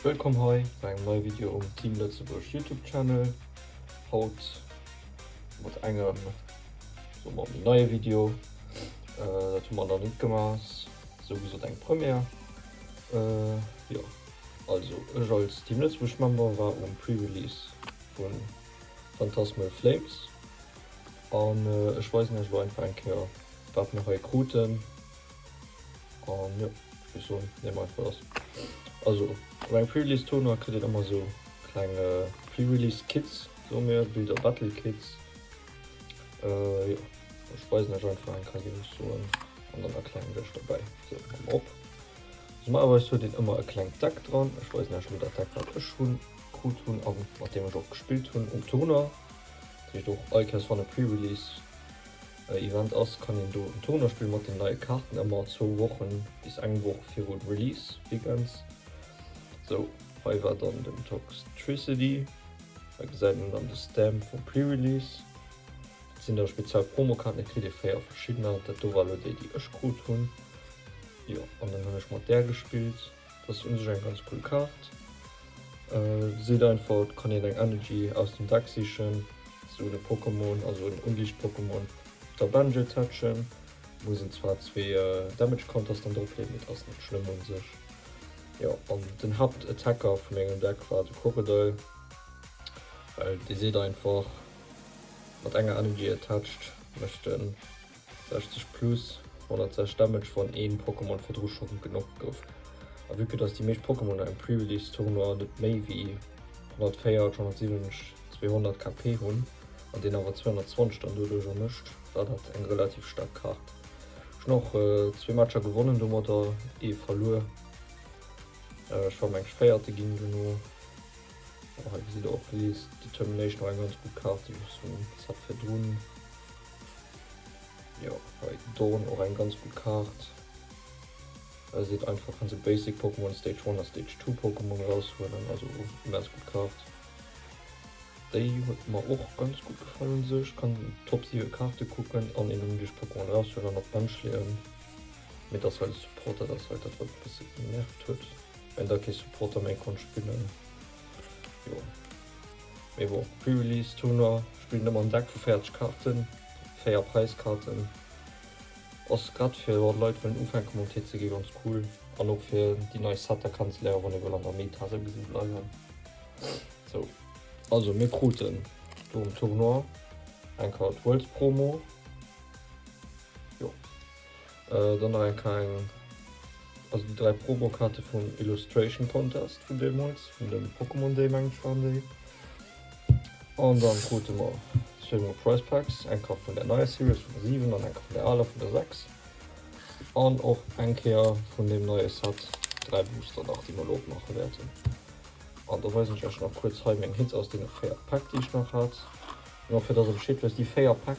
Wëllkomm hei bei engem neie Video um Team Lëtzebuerg Youtube Channel. Haut mat engem soe mer méi neie Video. Dat hu mer nach net gemaach, ass esou gesot eng Première. Jo also ech als Team Lëtzebuerg Member war um Pre-Release vu Phantasmal Flames an ech weisen iech elo einfach eng Kéier wat mer hei kruten. An jo, ech soen dem einfach dass, also op engem Pre-Release Tournoi kritt een ëmmer esou kleng Pre-Release Kits, soe mir Builder Battle Kits. Jo, ech weisen iech einfach eng Kei wéi ech soen an dann erklären ech iech dobäi. Sou, maache mer op. Normalerweis huet een ëmmer e klengt Deck dran. Ech weisen iech elo dat Deck wat ech hunn, krut hunn a mat deem ech och gespillt hunn um Tournoi. Dat heescht och all Kei ass dran, e Pre-Release. Event ass, kann een do en Tournoi spillen mat den neie Kaarten, ëmmer zwou Wochen bis eng Woch viru Release Weekends. Sou, hei war dann den Toxtricity, hei gesäit een dann de Stamp vum Pre-Release, dat sinn da speziell Promokaarten, et kritt ee 4 verschiddener, dat do war elo déi, déi ech krut hunn, jo, an dann hunn ech mat där gespillt. Dat ass un sech eng ganz cool Kaart. Seet einfach et kann een eng Energy aus dem Deck sichen, sou un e Pokémon, also un en Unlicht-Pokémon op der Bench attachen. Muss een zwar zwee Damage Counters dann drop leeën, mee dat ass net schlëmm un sech. Jo, an den Haaptattacker vu mengem Deck war de Crocodile, well dee seet einfach mat enger Energy attached mécht en 60 plus 106 Damage wann een Pokémon virdru scho genockt gouf. A vue que dass déi meescht Pokémoner am Pre-Release Tournoi net méi wéi 104, 170, 200 KP hunn an deen awer 220 dann doduercher mécht, war dat eng relativ staark Kart. Ech hunn och zwee Matcher gewonnen domatter, ee verluer. Ech war mengs véierte ginn dono. Hei gesitt der och d'List. Determination war eng ganz gutt Kart déi ech hunn, dat virdrun. Jo, hei Dawn, och eng ganz gutt Kaart. Hei seet einfach, kann se Basic Pokémon, Stage 1 a Stage 2 Pokémon eraushuelen, also immens gutt Kaart. Déi huet mer och ganz gutt gefall un sech, kann Top 7 Kaarte kucken an een ongleecht Pokémon eraushuelen an op d'Bench leeën. Mee dass hei de Support dat ass hei dat wat e bësse genervt huet, well da kee Supporter méi konnt spillen. Jo. Mee bon, Pre-Release Turner spillen ëmmer en Deck vu 40 Karten, 4 Präiskarten. Ass grad fir jo Leit wëllen ufänke mam TCG ganz cool an och fir déi nei Setter kennzeléieren, wann ee wëll an der Meta souwisou bleiwen. Sou, also mir kruten do um Tournoi eng Kart Worlds Promo. Äh dann nach eng kleng, also déi 3 Promokaarte vum Illustration Contest vun deemools, vun dem Pokémon Day mengen ech waren déi. An dann krute mer zwee mol Price Packs, eng Kaart vun der neier Series vun der 7 an eng Kaart vun der aler vun der 6. An och eng Kéier vun deem neie Set 3 Booster nach, déi mer elo opmaache wäerten. An da weisen ech iech nach kuerz hei meng Hits aus deene 4 Päck, déi ech nach hat. An och fir dass am Schiedweis déi 4 Päck.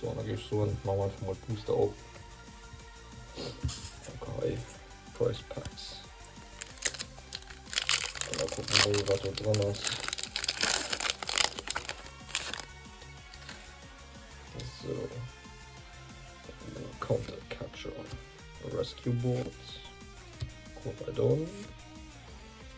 So, an da géif ech soen, ma mer einfach mol d'Booster op. Okay, Price Packs. An da kucken wir mol, wat do dran ass. So. Counter Catcher. Rescue Boards. Corbadon.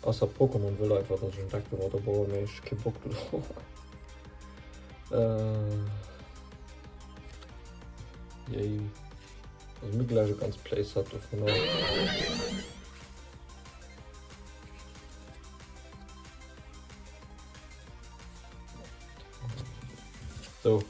Ass dat Pokémon The Light wat ech entdeckt hu wat op Ohr mee ech kee Bock dru Jéi Also mir gläich e ganz Playset dovunner. Sou.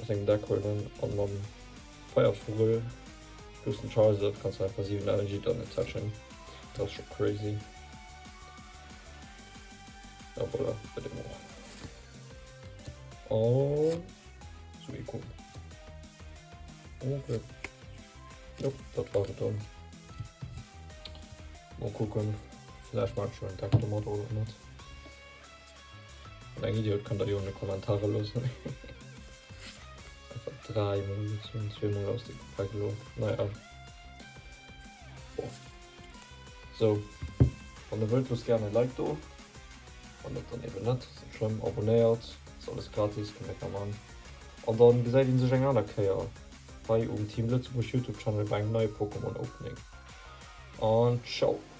Aus engem Deck huelen an mam Feier Fugel lussen. D'Chance ass op ganz einfach 7 Ellen jidderen Session. Dat ass scho crazy. A voilà, bei deem och. An zu ee Coup. Okay. Jo, dat war et dann. Mal kucken, vläicht maache ech jo en Deck domat oder och net. Eng Idiot kann der jo an de Kommentarer loossen. Einfach drei Mol gezogen, zwei Mol aus dem Pack lo. Naja. Boah. So. Wann ihr wollt, lasst gerne ein Like do. Wann net, dann eben net. Ist net schlimm. Abonnéiert. Ist alles gratis, könnt ihr machen. Und dann gesäit een sech eng aner Kéier hei um Team Lëtzebuerg Youtube Channel bei engem neie Pokémon Opening. Und ciao.